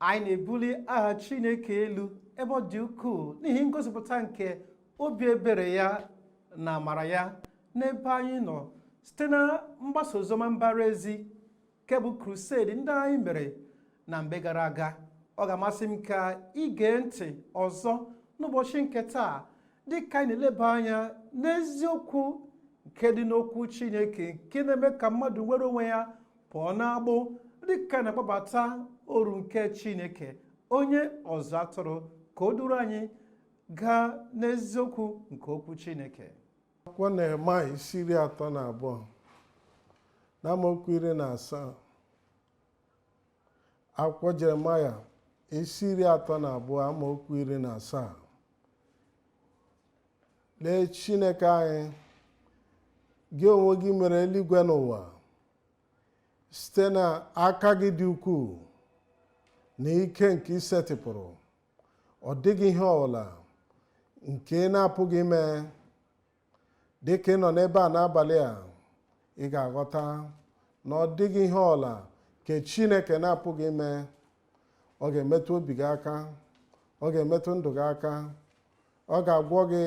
anyị na-ebuli aha chineke elu ebe ọ dị ukwuu n'ihi ngosipụta nke obi ebere ya na amara ya n'ebe anyị nọ site na mgbasa oziọma mbara ezi nke bụ crusade ndị anyị mere na mgbe gara aga ọ ga-amasị m ka ị gee ntị ọzọ n'ụbọchị nke taa dị ka anyị na-eleba anya n'eziokwu nke dị n'okwu chineke nke na-eme ka mmadụ nwere onwe ya pụọ n'agbụ dị ka a na-akpọbata oru nke chineke onye ọzụ atụrụ ka o duru anyị gaa n'eziokwu nke okwu chineke akwụkwọ nehemaya isi iri atọ na abụọ na amaokwu iri na asaa akwụkwọ jeremaya isi iri atọ na abụọ amaokwu iri na asaa lee chineke anyị gị onwe gị mere eluigwe na ụwa site na aka gị dị ukwuu na ike nke i setịpụrụ ọ dịghị ihe ọbụla nke ị na-apụghị ime dị ka ị nọ n'ebe a n'abalị a ị ga-aghọta na ọ dịghị ihe ọbụla nke chineke na-apụghị ime ọ ga-emetụ obi gị aka ọ ga-emetụ ndụ gị aka ọ ga-agwọ gị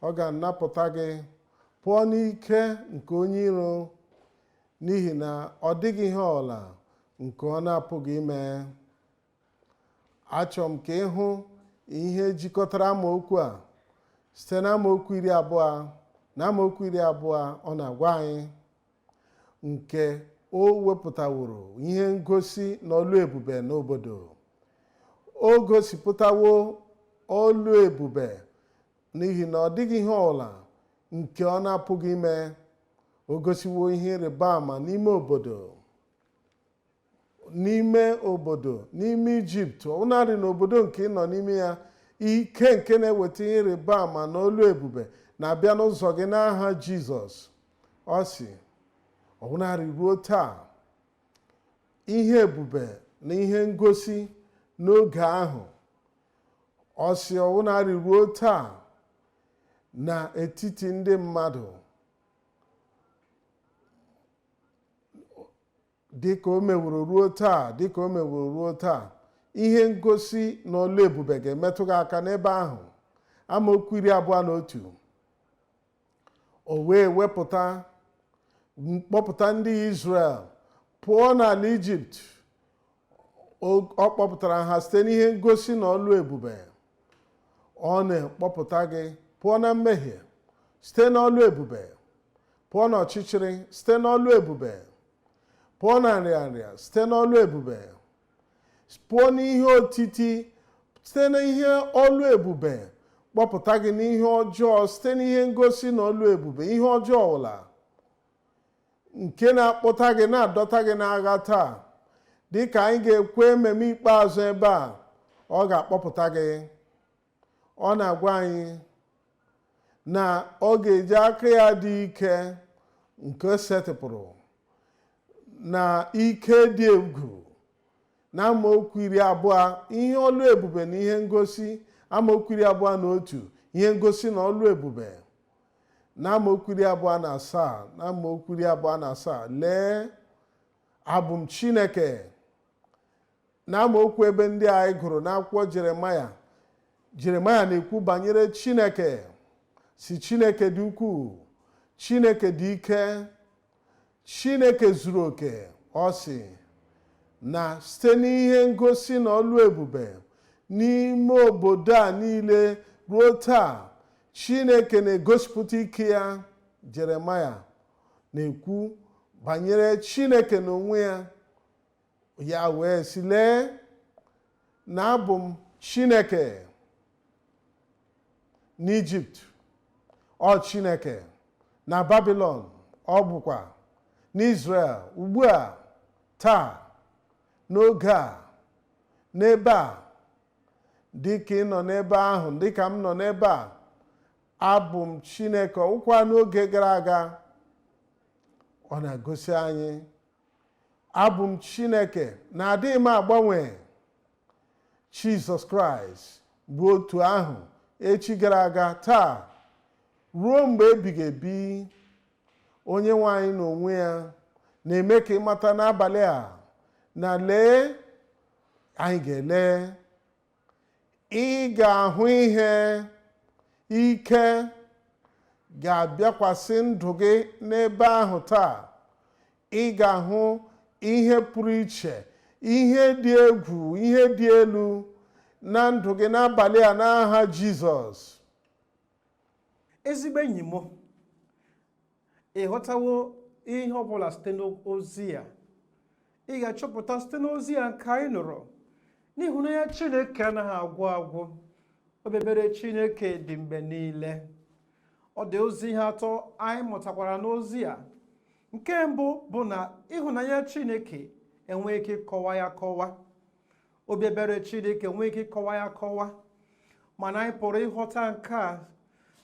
ọ ga-anapụta gị pụọ n'ike nke onye iro n'ihi na ọ dịghị ihe ọbụla nke ọ na-apụghị ime achọrọ m ka ị hụ ihe jikọtara amaokwu a site na amaokwu iri abụọ na amaokwu iri abụọ ọ na-agwa anyị nke o wepụtaworo ihe ngosi na ọlụ ebube n'obodo o gosipụtawo ọlụ ebube n'ihi na ọ dịghị ihe ọbụla nke ọ na-apụghị ime o gosiwo ihe ịrịba ama n'ime obodo n'ime obodo n'ime ijipt ọbụnadị n'obodo nke ị nọ n'ime ya ike nke na-eweta ihe ịrịba ama na ọlụ ebube na-abịa n'ụzọ gị n'aha jizọs ọ sị ọbụnadị ruo taa ihe ebube na ihe ngosi n'oge ahụ ọ sị ọbụnadị ruo taa n'etiti ndị mmadụ dịka o meworo ruo taa dịka o meworo ruo taa ihe ngosi na ọlụ ebube ga-emetụ gị aka n'ebe ahụ amaokwu iri abụọ na otu o wee wepụta kpọpụta ndị Izrel pụọ n'ala Ijipt ọ kpọpụtara ha site n'ihe ngosi na ọlụ ebube ọ na-ekpọpụta gị pụọ na mmehie site n'ọlụ ebube pụọ n'ọchịchịrị site n'ọlụ ebube pụọ na nrịanrịa site n'ọlụ ebube pụọ n'ihe otiti site n'ihe ọlụ ebube kpọpụta gị n'ihe ọjọọ site n'ihe ngosi na ọlụ ebube ihe ọjọọ ọbụla nke na-akpọta gị na-adọta gị n'agha taa dịka anyị ga-ekwu amen ikpeazụ ebe a ọ ga-akpọpụta gị ọ na-agwa anyị na ọ ga-eji aka ya dị ike nke setịpụrụ na ike dị egwu na amaokwu iri abụọ ihe ọlụ ebube na ihe ngosi amaokwu iri abụọ na otu ihe ngosi na ọlụ ebube na amaokwu iri abụọ na asaa na amaokwu iri abụọ na asaa lee abụ m chineke N'amaokwu ebe ndị a anyị gụrụ n'akwụkwọ Jeremaya, Jeremaya na-ekwu banyere Chineke sị Chineke dị ukwuu, Chineke dị ike, Chineke zuru oke, ọ sị na site n'ihe ngosi na ọlụ ebube n'ime obodo a niile ruo taa Chineke na-egosipụta ike ya Jeremaya na-ekwu banyere Chineke n'onwe ya ya wee sị lee na abụ m chineke n'ijipt ọ chineke na babilon ọ bụkwa n'izrel ugbu a taa n'oge a n'ebe a dịka ị nọ n'ebe ahụ dịka m nọ n'ebe a abụ m chineke ọ bụkwa n'oge gara aga ọ na-egosi anyị abụ m chineke na adịghị m agbanwe jizọs kraịst bụ otu ahụ echi gara aga taa ruo mgbe ebighị ebi onye nwe anyị n'onwe ya na-eme ka ị mata n'abalị a na lee anyị ga-ele Ị ga-ahụ ihe ike ga-abịakwasị ndụ gị n'ebe ahụ taa. Ị ga-ahụ ihe pụrụ iche, ihe dị egwu, ihe dị elu na ndụ gị n'abalị a n'aha Jizọs. Ezigbo enyi m, ị ghọtawo ihe ọ bụla site n'ozi a ị ga-achọpụta site n'ozi a nke anyị nụrụ na ịhụnanya chineke anaghị agwụ agwụ obi ebere chineke dị mgbe niile ọ dị ụzọ ihe atọ anyị mụtakwara n'ozi a nke mbụ bụ na ịhụnanya chineke enweghị ike ịkọwa ya akọwa obi ebere chineke enweghị ike ịkọwa ya akọwa mana anyị pụrụ ịghọta nke a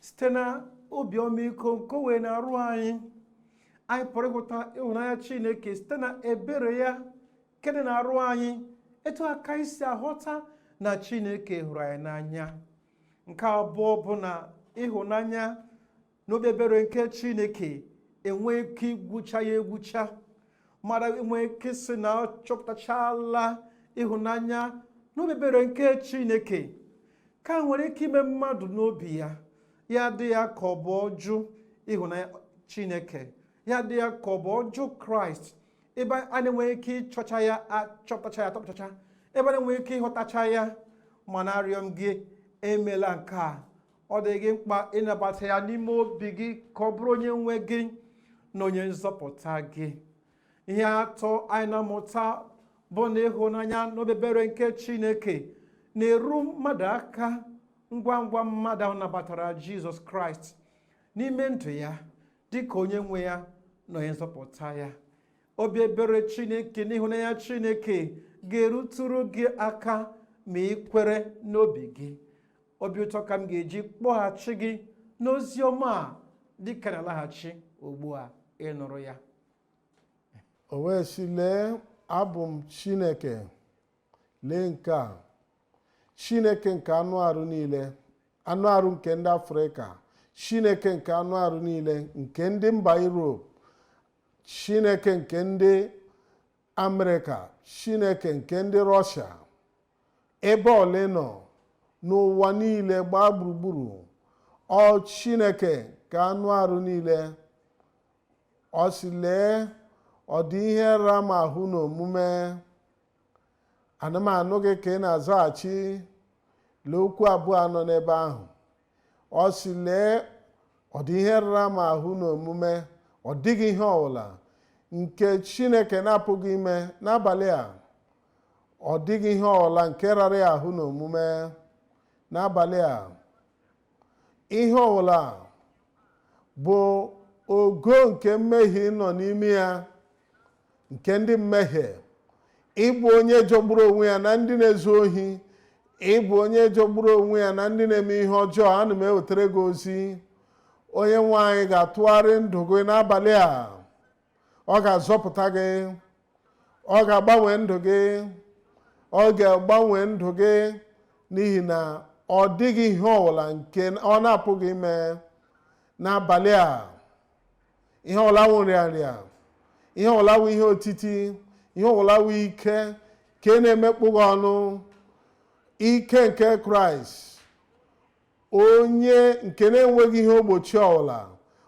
site na obi ọmịiko nke o nwere n'arụ anyị anyị pụrụ ịhụta ịhụnanya chineke site na ebere ya nke dị n'arụ anyị etu a ka anyị si aghọta na chineke hụrụ anyị n'anya nke abụọ bụ na ịhụnanya na obi ebere nke chineke enweghị ike igwucha ya egwucha mmadụ enweghị ike sị na ọ chọpụtachala ịhụnanya na obi ebere nke chineke ka nwere ike ime mmadụ n'obi ya ya dị ya ka ọ bụ ọ jụ ịhụnanya chineke ya dị ya ka ọ bụ ọ jụ kraịst ebe a na-enweghị ike ịchọcha ya achọpụtacha ya atọpụtacha ebe a na-enweghị ike ịhụtacha ya mana arịọ m gị emela nke a ọ dị gị mkpa ịnabata ya n'ime obi gị ka ọ bụrụ onye nwe gị na onye nzọpụta gị ihe atọ anyị na-amụta bụ na ịhụnanya na obi ebere nke chineke na-eru mmadụ aka ngwa ngwa mmadụ ahụ nabatara jizọs kraịst n'ime ndụ ya dị ka onye nwe ya na onye nzọpụta ya obi ebere chineke na ịhụnanya chineke ga-erutụrụ gị aka ma ị kwere n'obi gị obi ụtọ ka m ga-eji kpọghachi gị n'ozi ọma a dịka na-alaghachi ugbu a ịnụrụ ya o wee sị lee abụ m chineke lee nke a chineke nke anụ arụ niile anụ arụ nke ndị afrịka chineke nke anụ arụ niile nke ndị mba europe chineke nke ndị amerịka chineke nke ndị rọshia ebe ọbụla ị nọ n'ụwa niile gbaa gburugburu ọ chineke nke anụ arụ niile ọ sị lee ọ dị ihe ra m ahụ n'omume ana m anụ gị ka ị na-azaghachi lee okwu abụọ a nọ n'ebe ahụ ọ sị lee ọ dị ihe rara m ahụ n'omume ọ dịghị ihe ọbụla nke chineke na-apụghị ime n'abalị a ọ dịghị ihe ọbụla nke rara ya ahụ n'omume n'abalị a ihe ọbụla bụ ogo nke mmehie ị nọ n'ime ya nke ndị mmehie ị bụ onye jọgburu onwe ya na ndị na-ezu ohi ị bụ onye jọgburu onwe ya na ndị na-eme ihe ọjọọ ana m ewetara gị ozi onye nwe anyị ga-atụgharị ndụ gị n'abalị a ọ ga-azọpụta gị ọ ga-agbanwe ndụ gị ọ ga-agbanwe ndụ gị n'ihi na ọ dịghị ihe ọbụla nke ọ na-apụghị ime n'abalị a ihe ọbụla wụ nrịanrịa ihe ọbụla wụ ihe otiti ihe ọbụla wụ ike nke na-emekpọ gị ọnụ ike nke kraịst onye nke na-enweghị ihe ogbochi ọbụla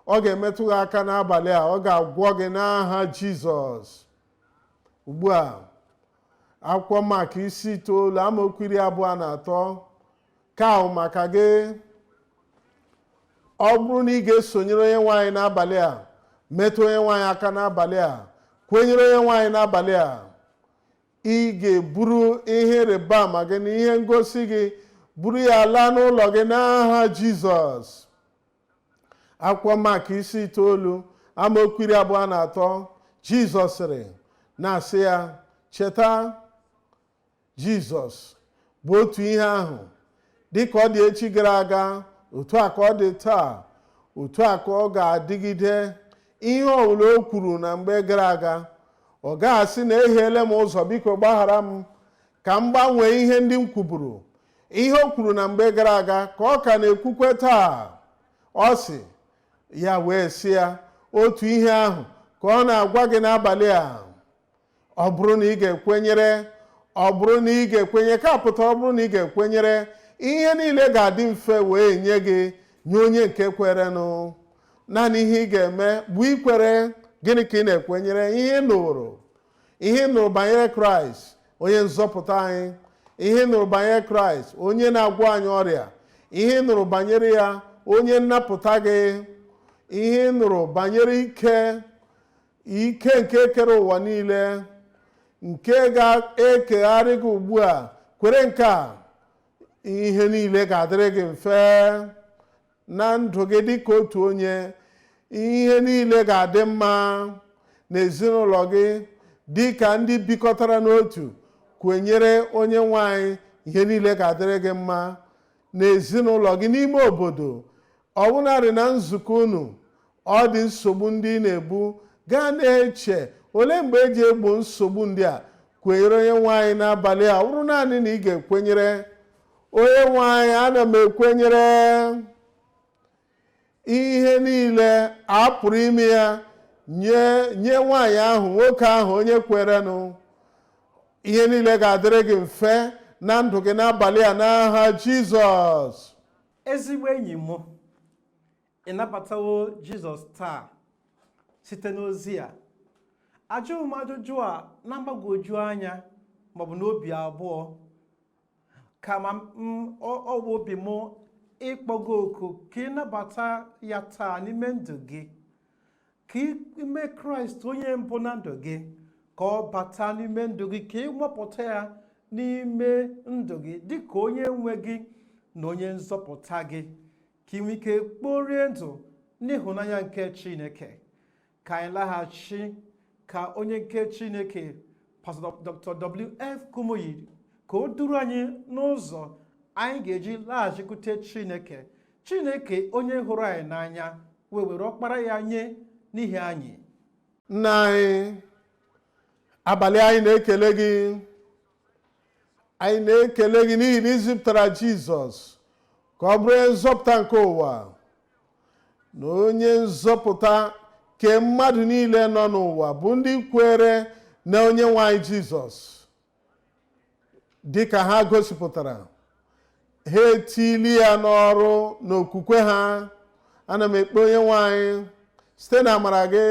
ọ ga-emetụ gị aka n'abalị a ọ ga-agwọ gị n'aha jizọs ugbu a akwụkwọ mak isi itoolu amaokwu iri abụọ na atọ ka ahụ maka gị ọ bụrụ na ị ga-esonyere onye nwe anyị n'abalị a metụ onye nwe anyị aka n'abalị a kwenyere onye nwe anyị n'abalị a ị ga-eburu ihe ịrịba ama gị na ihe ngosi gị buru ya laa n'ụlọ gị n'aha jizọs akwụkwọ mak isi itoolu amaokwu iri abụọ na atọ jizọs sịrị na-asị ya cheta Jizọs bụ otu ihe ahụ dị ka ọ dị echi gara aga otu a ka ọ dị taa otu a ka ọ ga-adịgide ihe ọbụla o kwuru na mgbe gara aga ọ gaghị asị na ehiele m ụzọ biko gbaghara m ka m gbanwee ihe ndị m kwuburu ihe o kwuru na mgbe gara aga ka ọ ka na-ekwukwe taa ọ sị ya wee sị ya otu ihe ahụ ka ọ na-agwa gị n'abalị a ọ bụrụ na ị ga-ekwenyere ọ bụrụ na ị ga-ekwenye nke pụtara ọ bụrụ na ị ga-ekwenyere ihe niile ga-adị mfe wee nye gị nye onye nke kwerenụ naanị ihe ị ga-eme bụ ikwere gịnị ka ị na-ekwenyere ihe ị nụrụ ihe ị nụrụ banyere kraịst onye nzọpụta anyị ihe ị nụrụ banyere kraịst onye na-agwọ anyị ọrịa ihe ị nụrụ banyere ya onye nnapụta gị ihe ị nụrụ banyere ike ike nke kere ụwa niile nke ga-ekegharị gị ugbu a kwere nke a ihe niile ga-adịrị gị mfe na ndụ gị dị ka otu onye ihe niile ga-adị mma n'ezinụlọ gị dị ka ndị bikọtara n'otu kwenyere onye nwe anyị ihe niile ga-adịrị gị mma n'ezinụlọ gị n'ime obodo Ọbụnarị na nzukọ unu, ọ dị nsogbu ndị ị na-ebu, gaa na-eche, olee mgbe e ji egbo nsogbu ndị a? Kwenyere onye nwe anyị n'abalị a, ọ bụrụ naanị na ị ga-ekwenyere. Onye nwe anyị, ana m ekwenyere ihe niile a pụrụ ime ya nye nwaanyị ahụ nwoke ahụ onye kwerenụ ihe niile ga-adịrị gị mfe na ndụ gị n'abalị a n'aha jizọs ezigbo enyi m ị nabatawo jizọs taa site n'ozi a ajụghị m ajụjụ a na mgbagwoju anya maọbụ n'obi abụọ kama ọ bụ obi m ịkpọ gị oku ka ị nabata ya taa n'ime ndụ gị ka i mee kraịst onye mbụ na ndụ gị ka ọ bata n'ime ndụ gị ka ị nwapụta ya n'ime ndụ gị dị ka onye nwe gị na onye nzọpụta gị ka ị nwee ike kporie ndụ n'ịhụnanya nke chineke ka anyị laghachi ka onye nke chineke pastọ dr wf kumuyi ka o duru anyị n'ụzọ anyị ga-eji laghachikwute chineke chineke onye hụrụ anyị n'anya wee were ọkpara ya nye n'ihi anyị nna anyị abalị a anyị na-ekele gị anyị na-ekele gị n'ihi na i zipụtara jizọs ka ọ bụrụ onye nzọpụta nke ụwa na onye nzọpụta ke mmadụ niile nọ n'ụwa bụ ndị kwere na onye nwe anyị jizọs dịka ha gosipụtara ha etili ya n'ọrụ n'okwukwe ha ana m ekpe onye nwe anyị site na amara gị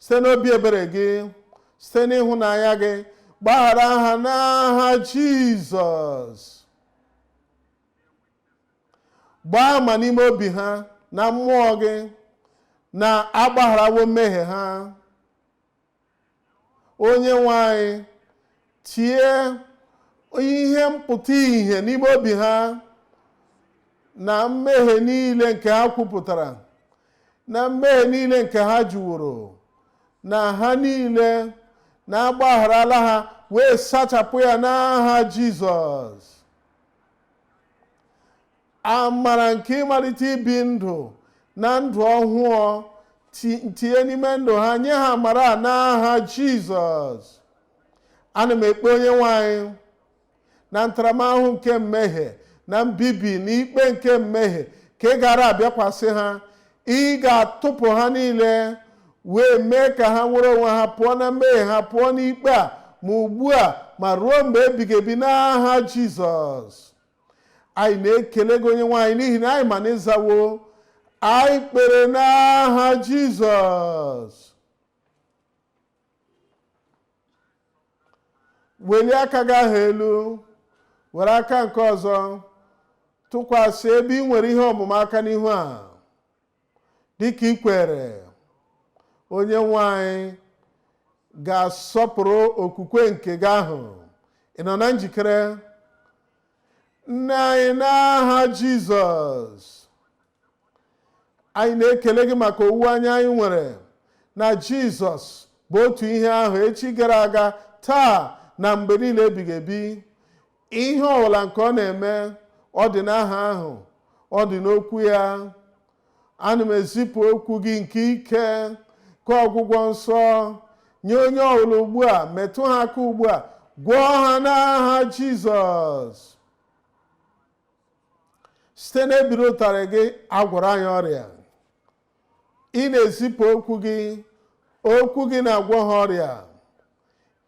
site n'obi ebere gị site n'ịhụnanya gị gbaghara ha n'aha jizọs gbaa ama n'ime obi ha na mmụọ gị na agbagharawo mmehie ha onye nwe anyị tie ihe mpụta ihe n'ime obi ha na mmehie niile nke ha kwupụtara na mmehie niile nke ha jụworo na ha niile na agbagharala ha wee sachapụ ya n'aha Jizọs amara nke ịmalite ibi ndụ na ndụ ọhụụ ti- tinye n'ime ndụ ha nye ha amara a n'aha jizọs ana m ekpe onye nwe anyị na ntaramahụhụ nke mmehie na mbibi na ikpe nke mmehie nke gaara abịakwasị ha ị ga-atụpụ ha niile wee mee ka ha nwere onwe ha pụọ na mmehie ha pụọ n'ikpe a ma ugbu a ma ruo mgbe ebighị ebi n'aha jizọs anyị na-ekele gị onye nwe anyị n'ihi na anyị ma na ị zawo anyị kpere n'aha jizọs welie aka gị ahụ elu were aka nke ọzọ tụkwasị ebe ị nwere ihe ọmụma aka n'ihu a dịka i kwere onye nwe anyị ga-asọpụrụ okwukwe nke gị ahụ ị nọ na njikere nna anyị n'aha jizọs anyị na-ekele gị maka owuwe anya anyị nwere na jizọs bụ otu ihe ahụ echi gara aga taa na mgbe niile ebighị ebi ihe ọbụla nke ọ na-eme ọ dị n'aha ahụ ọ dị n'okwu ya ana m ezipụ okwu gị nke ike ka ọgwụgwọ nsọ nye onye ọbụla ugbu a metụ ha aka ugbu a gwọọ ha n'aha jizọs site n'ubiri ụtarị gị a gwọrọ anyị ọrịa ị na-ezipụ okwu gị okwu gị na-agwọ ha ọrịa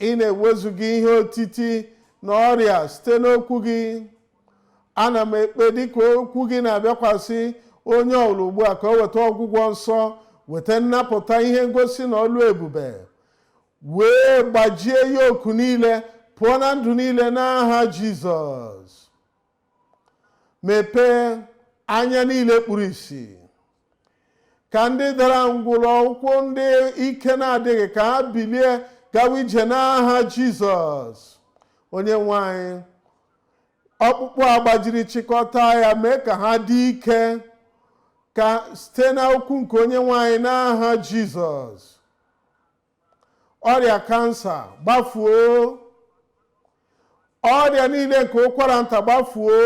ị na-ewezuga ihe otiti na ọrịa site n'okwu gị ana m ekpe dịka okwu gị na-abịakwasị onye ọbụla ugbu a ka o weta ọgwụgwọ nsọ weta nnapụta ihe ngosi na ọlụ ebube wee gbajie yoku niile pụọ na ndụ niile n'aha jizọs mepee anya niile kpuru ìsì ka ndị dara ngwụrọ ụkwụ ndị ike na-adịghị ka ha bilie gawa ije n'aha jizọs onye nwe anyị ọkpụkpụ a gbajiri chịkọta ya mee ka ha dị ike ka site na okwu nke onye nwe anyị n'aha jizọs ọrịa kansa gbafuo ọrịa niile nke ụkwara nta gbafuo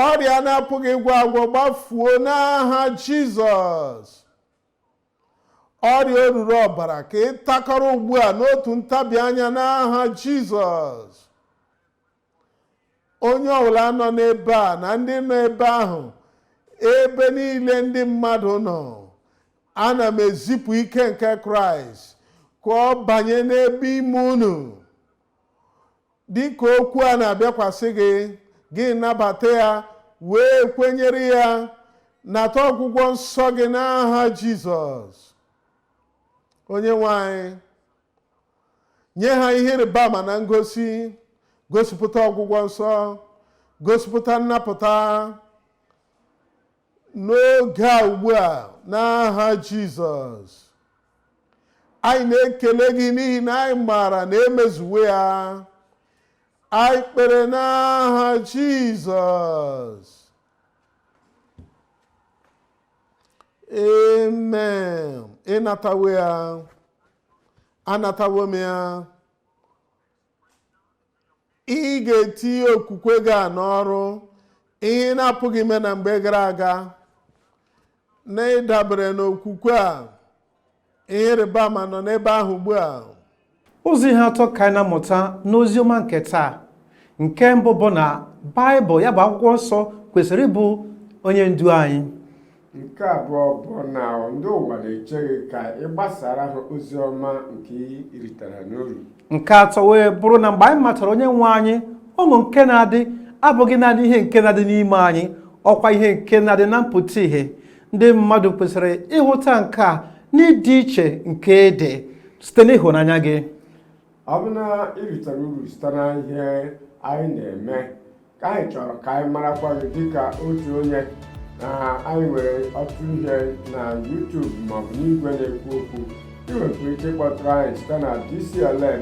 ọrịa a na-apụghị ịgwọ agwọ gbafuo n'aha jizọs ọrịa oruru ọbara ka ị takọrọ ugbu a n'otu ntabi anya n'aha jizọs onye ọbụla nọ n'ebe a na ndị nọ ebe ahụ ebe niile ndị mmadụ nọ ana m ezipụ ike nke kraịst ka ọ banye n'ebe ime unu dịka okwu a na-abịakwasị gị gị nabata ya wee kwenyere ya nata ọgwụgwọ nsọ gị n'aha jizọs onye nwe anyị nye ha ihe ịrịba ama na ngosi gosipụta ọgwụgwọ nsọ gosipụta nnapụta n'oge a ugbu a n'aha jizọs anyị na-ekele gị n'ihi na anyị maara na e mezuwo ya anyị kpere n'aha jizọs amen ịnatawo ya anatawo m ya ị ga-etinye okwukwe gị a n'ọrụ ihe ị na-apụghị ime na mgbe gara aga na ịdabere n'okwukwe a Ihe ịrịba ama nọ n'ebe ahụ ugbu a. Ụzọ ihe atọ ka anyị na-amụta n'ozi ọma nke taa. Nke mbụ bụ na Baịbụl ya bụ akwụkwọ nsọ kwesịrị ịbụ onye ndu anyị. Nke abụọ bụ na ndị ụwa na-eche gị ka ị gbasara ha ozi ọma nke i ritere n'uru. Nke atọ wee bụrụ na mgbe anyị matara onye nwe anyị ọṅụ nke na-adị abụghị naanị ihe nke na-adị n'ime anyị ọkwa ihe nke na-adị na mpụta ihe ndị mmadụ kwesịrị ịhụta nke a n'ịdị iche nke ị dị site n'ịhụnanya gị ọ bụ na i ritara uru site na ihe anyị na-eme ka anyị chọrọ ka anyị marakwa gị dịka otu onye anyị nwere ọtụtụ ihe na YouTube maọbụ n'igwe na-ekwu okwu ị nwekwara ike ịkpọtụrụ anyị site na DCLM